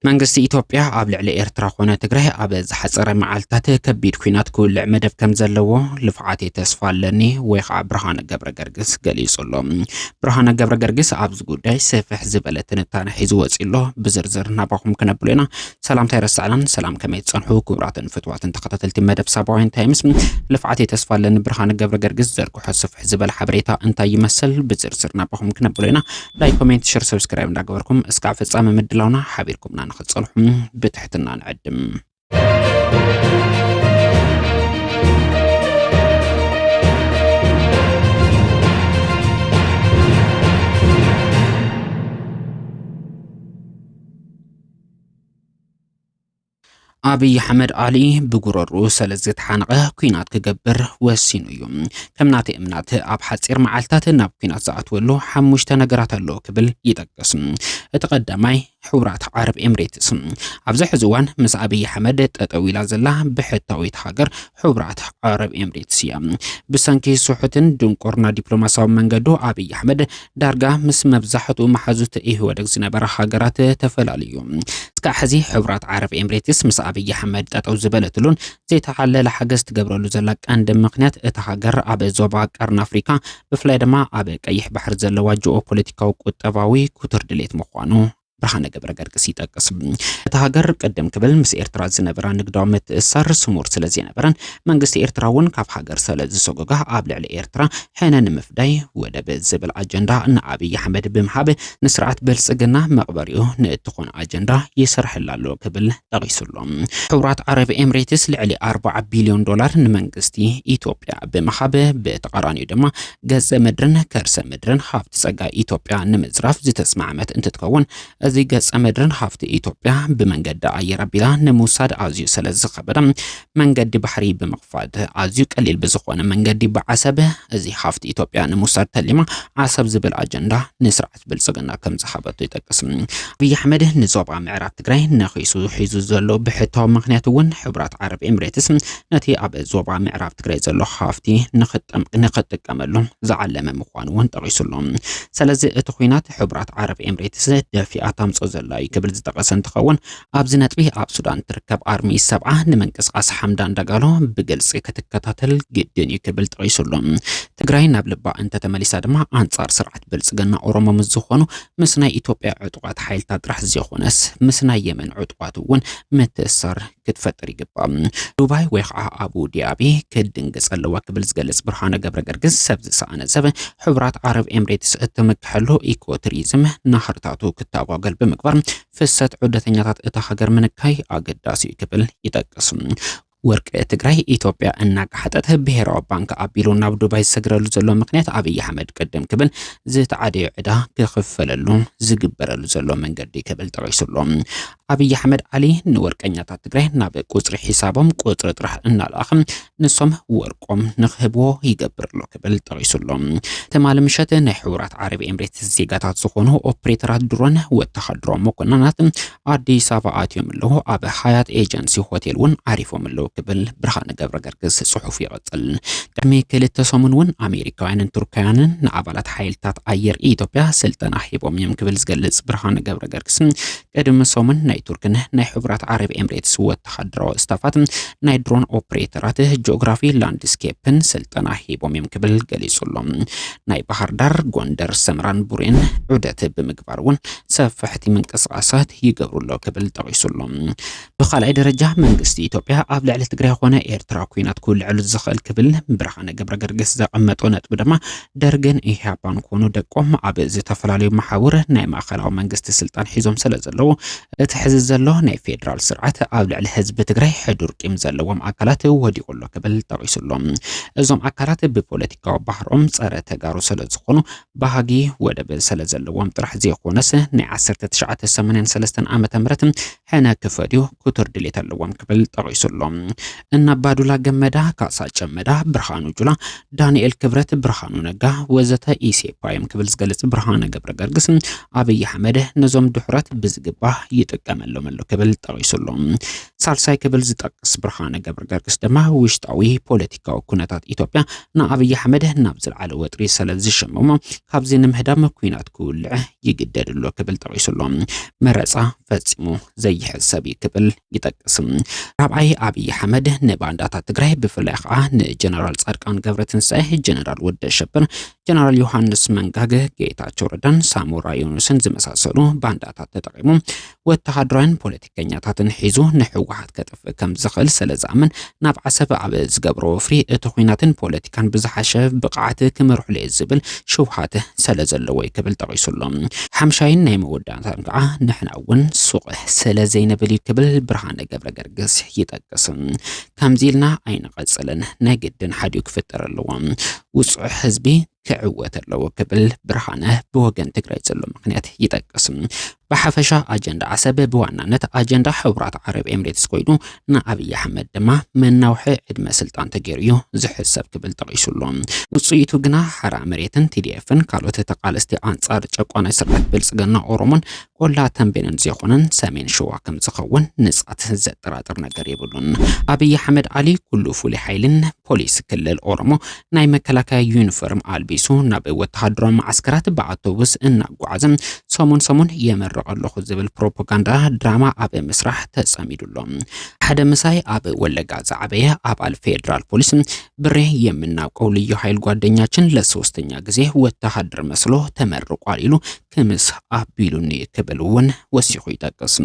መንግስቲ ኢትዮጵያ ኣብ ልዕሊ ኤርትራ ኮነ ትግራይ ኣብ ዝሓፀረ መዓልትታት ከቢድ ኩናት ክውልዕ መደብ ከም ዘለዎ ልፍዓተይ ተስፋ ኣለኒ ወይ ከዓ ብርሃነ ገብረ ገርግስ ገሊጹ ኣሎ። ብርሃነ ገብረ ገርግስ ኣብ ኣብቲ ጉዳይ ሰፍሕ ዝበለ ትንታነ ሒዙ ወፂኡ ኣሎ። ብዝርዝር ናባኹም ክነብሎ ኢና። ሰላምታ ይረሳዕናን ሰላም ከመይ ትፀንሑ ክቡራትን ፍትዋትን ተኸታተልቲ መደብ ሳባውያን ታይምስ ልፍዓት የተስፋ ኣለኒ ብርሃን ገብረ ገርግስ ዘርግሖ ስፍሕ ዝበለ ሓበሬታ እንታይ ይመስል ብዝርዝር ናባኹም ክነብሎ ኢና። ላይክ ኮሜንት ሽር ሰብስክራይብ እንዳገበርኩም እስካዕ ፍፃመ ምድላውና ሓቢርኩምና ንክትፀንሑ ብትሕትና ንዕድም። ኣብይ ኣሕመድ ኣሊ ብጉረሩ ስለ ዝተሓንቐ ኩናት ክገብር ወሲኑ እዩ ከም ናተይ እምናት ኣብ ሓፂር መዓልትታት ናብ ኩናት ዝኣትወሉ ሓሙሽተ ነገራት ኣለዎ ክብል ይጠቅስ እቲ ቀዳማይ ሕቡራት ዓረብ ኤምሬትስ ኣብዚ ሕዚ እዋን ምስ ኣብይ ኣሕመድ ጠጠው ኢላ ዘላ ብሕታዊት ሃገር ሕቡራት ዓረብ ኤምሬትስ እያ። ብሰንኪ ስሑትን ድንቁርና ዲፕሎማሲያዊ መንገዱ ኣብይ ኣሕመድ ዳርጋ ምስ መብዛሕትኡ መሓዙት ኢህወደግ ዝነበረ ሃገራት ተፈላለዩ። እስካዕ ሕዚ ሕቡራት ዓረብ ኤምሬትስ ምስ ኣብይ ኣሕመድ ጠጠው ዝበለትሉን ዘይተሓለለ ሓገዝ ትገብረሉ ዘላ ቀንዲ ምክንያት እታ ሃገር ኣብ ዞባ ቀርኒ ኣፍሪካ ብፍላይ ድማ ኣብ ቀይሕ ባሕሪ ዘለዋ ጂኦ ፖለቲካዊ ቁጠባዊ ኩትር ድሌት ምዃኑ ብርሃነ ገብረገርግስ ይጠቅስ። እታ ሃገር ቅድም ክብል ምስ ኤርትራ ዝነበራ ንግዳዊ ምትእስሳር ስሙር ስለ ዘይነበረን መንግስቲ ኤርትራ እውን ካብ ሃገር ሰለ ዝሰጎጋ ኣብ ልዕሊ ኤርትራ ሕነ ንምፍዳይ ወደብ ዝብል ኣጀንዳ ንኣብይ ኣሕመድ ብምሃብ ንስርዓት ብልጽግና መቕበሪኡ ንእትኾን ኣጀንዳ ይሰርሐላ ኣሎ ክብል ጠቒሱ ኣሎ። ሕቡራት ዓረብ ኤምሬትስ ልዕሊ ኣርባዓ ቢልዮን ዶላር ንመንግስቲ ኢትዮጵያ ብምሃብ ብተቃራኒኡ ድማ ገፀ ምድርን ከርሰ ምድርን ሃፍቲ ፀጋ ኢትዮጵያ ንምዝራፍ ዝተስማዕመት እንትትከውን እዚ ገፀ ምድርን ሃፍቲ ኢትዮጵያ ብመንገዲ ኣየር ኣቢላ ንምውሳድ ኣዝዩ ስለ ዝኸበደ መንገዲ ባሕሪ ብምኽፋት ኣዝዩ ቀሊል ብዝኾነ መንገዲ ብዓሰብ እዚ ሃፍቲ ኢትዮጵያ ንምውሳድ ተሊማ ዓሰብ ዝብል ኣጀንዳ ንስርዓት ብልፅግና ከምዝሓበቶ ይጠቅስ። ኣብይ ኣሕመድ ንዞባ ምዕራብ ትግራይ ነኺሱ ሒዙ ዘሎ ብሕታዊ ምክንያት እውን ሕቡራት ዓረብ ኤምሬትስ ነቲ ኣብ ዞባ ምዕራብ ትግራይ ዘሎ ሃፍቲ ንክጥቀመሉ ዝዓለመ ምዃኑ እውን ጠቂሱ ኣሎ። ስለዚ እቲ ኩናት ሕቡራት ዓረብ ኤምሬትስ ደፊኣ ታምፆ ዘላ እዩ ክብል ዝጠቀሰ እንትኸውን ኣብዚ ነጥቢ ኣብ ሱዳን እትርከብ ኣርሚ ሰብዓ ንምንቅስቓስ ሓምዳን ዳጋሎ ብግልፂ ክትከታተል ግድን እዩ ክብል ጠቒሱ ኣሎ። ትግራይ ናብ ልባ እንተተመሊሳ ድማ ኣንፃር ስርዓት ብልፅግና ኦሮሞ ምስ ዝኾኑ ምስ ናይ ኢትዮጵያ ዕጡቓት ሓይልታት ጥራሕ ዘይኾነስ ምስ ናይ የመን ዕጡቓት እውን ምትእስሳር ክትፈጥር ይግባእ። ዱባይ ወይ ከዓ ኣቡ ዲኣቢ ክትድንግፅ ኣለዋ ክብል ዝገልፅ ብርሃነ ገብረ ገርግስ ሰብ ዝሰኣነ ሰብ ሕቡራት ዓረብ ኤምሬትስ እትምክሐሉ ኢኮ ቱሪዝም ናህርታቱ ክታጓገል ብምግባር ፍሰት ዑደተኛታት እታ ሃገር ምንካይ ኣገዳሲ እዩ ክብል ይጠቅስ። ወርቂ ትግራይ ኢትዮጵያ እናጋሓጠት ብሄራዊ ባንክ ኣቢሉ ናብ ዱባይ ዝሰግረሉ ዘሎ ምክንያት ኣብይ ኣሕመድ ቅድም ክብል ዝተዓደዮ ዕዳ ክኽፈለሉ ዝግበረሉ ዘሎ መንገዲ ክብል ጠቂሱሎ። ኣብይ ኣሕመድ ዓሊ ንወርቀኛታት ትግራይ ናብ ቁፅሪ ሒሳቦም ቁፅሪ ጥራሕ እናልኣኸ ንሶም ወርቆም ንክህብዎ ይገብር ኣሎ ክብል ጠቒሱ ኣሎ። ትማሊ ምሸት ናይ ሕቡራት ዓረብ ኤምሬትስ ዜጋታት ዝኾኑ ኦፕሬተራት ድሮን ወተሃደራዊ መኮንናት ኣዲስ ኣበባ ኣትዮም ኣለዉ፣ ኣብ ሃያት ኤጀንሲ ሆቴል እውን ዓሪፎም ኣለዉ ክብል ብርሃነ ገብረ ገርግስ ጽሑፉ ይቕጽል። ቅድሚ ክልተ ሰሙን እውን ኣሜሪካውያንን ቱርካውያንን ንኣባላት ሓይልታት ኣየር ኢትዮጵያ ስልጠና ሂቦም እዮም ክብል ዝገልጽ ብርሃነ ገብረ ገርግስ ቅድሚ ሰሙን ናይ ቱርክን ናይ ሕቡራት ዓረብ ኤምሬትስ ወተሃደራዊ ስታፋት ናይ ድሮን ኦፕሬተራት ጂኦግራፊ ላንድስኬፕን ስልጠና ሂቦም እዮም ክብል ገሊጹ ኣሎ። ናይ ባህር ዳር፣ ጎንደር፣ ሰምራን ቡሬን ዑደት ብምግባር እውን ሰፋሕቲ ምንቅስቓሳት ይገብሩ ኣሎ ክብል ጠቒሱ ኣሎ። ብኻልኣይ ደረጃ መንግስቲ ኢትዮጵያ ኣብ ልዕሊ ትግራይ ኾነ ኤርትራ ኩናት ክውልዐሉ ዝኽእል ክብል ብርሃነ ገብረገርግስ ዘቐመጦ ነጥቢ ድማ ደርግን ኢህኣፓን ኮኑ ደቆም ኣብ ዝተፈላለዩ መሓውር ናይ ማእኸላዊ መንግስቲ ስልጣን ሒዞም ስለ ዘለዉ እቲ ሕዚ ዘሎ ናይ ፌዴራል ስርዓት ኣብ ልዕሊ ህዝቢ ትግራይ ሕዱር ቂም ዘለዎም ኣካላት ወዲቑ ኣሎ ክብል ጠቒሱ ኣሎ። እዞም ኣካላት ብፖለቲካዊ ባህሮም ፀረ ተጋሩ ስለ ዝኾኑ ባህጊ ወደብ ስለ ዘለዎም ጥራሕ ዘይኮነስ ናይ ዓሰርተ ትሽዓተ ሰማንያን ሰለስተን ዓመተ ምህረት ሕነ ክፈድዩ ክቱር ድሌት ኣለዎም ክብል ጠቒሱ ኣሎ። እነ ኣባዱላ ገመዳ፣ ካሳ ጨመዳ፣ ብርሃኑ ጁላ፣ ዳንኤል ክብረት፣ ብርሃኑ ነጋ ወዘተ ኢሴፓ እዮም ክብል ዝገልጽ ብርሃነ ገብረገርግስ፣ ኣብይ ኣሕመድ ነዞም ድሑራት ብዝግባእ ይጥቀመሎም ኣሎ ክብል ጠቒሱ ኣሎ። ሳልሳይ ክብል ዝጠቅስ ብርሃነ ገብረገርግስ ድማ ውሽጣዊ ፖለቲካዊ ኩነታት ኢትዮጵያ ንኣብይ ኣሕመድ ናብ ዝለዓለ ወጥሪ ስለ ዝሸመሞ ካብዚ ንምህዳም ኩናት ክውልዕ ይግደድ ኣሎ ክብል ጠቂሱ ኣሎ። መረፃ ፈፂሙ ዘይሕዝ ሰብ እዩ ክብል ይጠቅስ። ራብዓይ ኣብይ ኣሕመድ ንባንዳታት ትግራይ ብፍላይ ከዓ ንጀነራል ፃድቃን ገብረትንሳኤ፣ ጀነራል ወደ ሸብር፣ ጀነራል ዮሃንስ መንጋገ፣ ጌታቸው ረዳን ሳሞራ ዮኑስን ዝመሳሰሉ ባንዳታት ተጠቂሙ ወተሃደራውያን ፖለቲከኛታትን ሒዙ ንሕወሓት ከጥፍእ ከም ዝኽእል ስለ ዝኣምን ናብ ዓሰብ ኣብ ዝገብሮ ወፍሪ እቲ ኩናትን ፖለቲካን ብዝሓሸ ብቕዓት ክመርሕሉ እየ ዝብል ሽውሃት ስለ ዘለዎ እዩ ክብል ጠቒሱ ኣሎ። ሓምሻይን ናይ መወዳእታን ከዓ ንሕና እውን ሱቕ ስለ ዘይንብል እዩ ክብል ብርሃነ ገብረ ገርግስ ይጠቅስ። ከምዚ ኢልና ኣይንቐፅልን፣ ናይ ግድን ሓዲኡ ክፍጠር ኣለዎ። ውፁዕ ህዝቢ ክዕወት ኣለዎ ክብል ብርሃነ ብወገን ትግራይ ዘሎ ምክንያት ይጠቅስ። ብሓፈሻ ኣጀንዳ ዓሰብ ብዋናነት ኣጀንዳ ሕቡራት ዓረብ ኤምሬትስ ኮይኑ ንኣብዪ ኣሕመድ ድማ መናውሒ ዕድመ ስልጣን ተገይሩ እዩ ዝሕሰብ ክብል ጠቒሱ ኣሎ። ውፅኢቱ ግና ሓራ መሬትን ቲዲኤፍን ካልኦት ተቓለስቲ ኣንጻር ጨቋናይ ስርዓት ብልፅግና ኦሮሞን ቆላ ተንቤንን ዘይኮነን ሰሜን ሸዋ ከም ዝኸውን ንፃት ዘጠራጥር ነገር የብሉን። ኣብዪ ኣሕመድ ዓሊ ኩሉ ፍሉይ ሓይልን ፖሊስ ክልል ኦሮሞ ናይ መከላከያ ዩኒፎርም ኣልቢሱ ናብ ወተሃደራዊ መዓስከራት ብኣውቶቡስ እናጓዓዘ ሰሙን ሰሙን የመርቕ ኣለኹ ዝብል ፕሮፓጋንዳ ድራማ ኣብ ምስራሕ ተጸሚዱ ኣሎ። ሓደ ምሳይ ኣብ ወለጋ ዝዓበየ ኣባል ፌዴራል ፖሊስ ብሬ የምናውቀው ልዩ ኃይል ጓደኛችን ለሶስተኛ ጊዜ ወተሃደር መስሎ ተመርቋል ኢሉ ክምስ ኣቢሉኒ ክብል እውን ወሲኹ ይጠቅስ።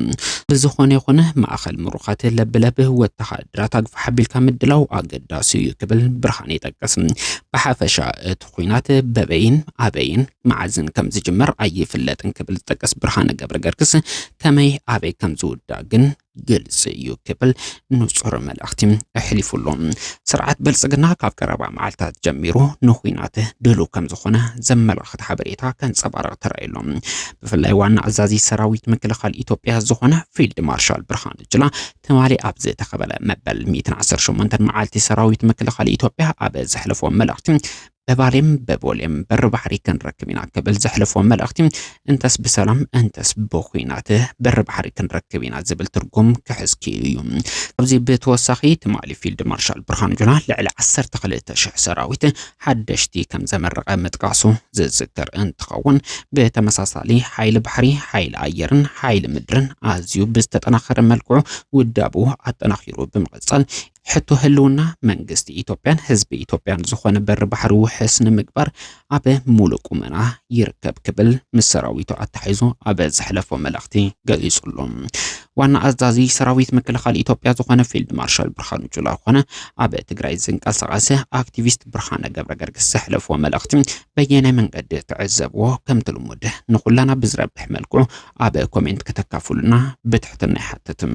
ብዝኾነ ይኹን ማእኸል ምሩኻት ለብለብ ወተሃደራት ኣግፋሕ ኣቢልካ ምድላው ኣገዳሲ እዩ ክብል ብርሃነ ይጠቅስ። ብሓፈሻ እቲ ኹናት በበይን ኣበይን መዓዝን ከም ዝጅመር ኣይፍለጥን ክብል ዝጠቅስ ብርሃነ ገብረገርግስ ከመይ ኣበይ ከም ዝውዳእ ግን ግልፂ እዩ ክብል ንፁር መልእኽቲ ኣሕሊፉ ኣሎ። ስርዓት ብልፅግና ካብ ቀረባ መዓልታት ጀሚሩ ንኩናት ድሉው ከም ዝኾነ ዘመላኽት ሓበሬታ ከንፀባርቕ ተራእዩ ኣሎ። ብፍላይ ዋና ኣዛዚ ሰራዊት ምክልኻል ኢትዮጵያ ዝኾነ ፊልድ ማርሻል ብርሃኑ ጁላ ትማሊ ኣብ ዝተኸበለ መበል 118 መዓልቲ ሰራዊት ምክልኻል ኢትዮጵያ ኣብ ዘሕለፎ መልእኽቲ በባሌም በቦሌም በሪ ባሕሪ ክንረክብ ኢና ክብል ዘሕለፎ መልእኽቲ እንተስ ብሰላም እንተስ ብኹናት በሪ ባሕሪ ክንረክብ ኢና ዝብል ትርጉም ክሕዝ ክኢሉ እዩ። ካብዚ ብተወሳኺ ትማሊ ፊልድ ማርሻል ብርሃኑ ጁላ ልዕሊ 12,000 ሰራዊት ሓደሽቲ ከም ዘመረቐ ምጥቃሱ ዝዝከር እንትኸውን ብተመሳሳሊ ሓይሊ ባሕሪ፣ ሓይሊ ኣየርን ሓይሊ ምድርን ኣዝዩ ብዝተጠናኸረ መልክዑ ውዳብኡ ኣጠናኺሩ ብምቕፃል ሕቶ ህልውና መንግስቲ ኢትዮጵያን ህዝቢ ኢትዮጵያን ዝኾነ በሪ ባሕሪ ውሕስ ንምግባር ኣብ ሙሉእ ቁመና ይርከብ ክብል ምስ ሰራዊቱ ኣተሓይዞ ኣብ ዘሕለፎ መልእኽቲ ገሊጹሉ። ዋና ኣዛዚ ሰራዊት ምክልኻል ኢትዮጵያ ዝኾነ ፊልድ ማርሻል ብርሃኑ ጁላ ኮነ ኣብ ትግራይ ዝንቀሳቐሰ ኣክቲቪስት ብርሃነ ገብረ ገርግስ ዘሕለፍዎ መልእኽቲ በየናይ መንገዲ ትዕዘብዎ ከምቲ ልሙድ ንኹላና ብዝረብሕ መልክዑ ኣብ ኮሜንት ከተካፍሉና ብትሕትና ይሓትትም።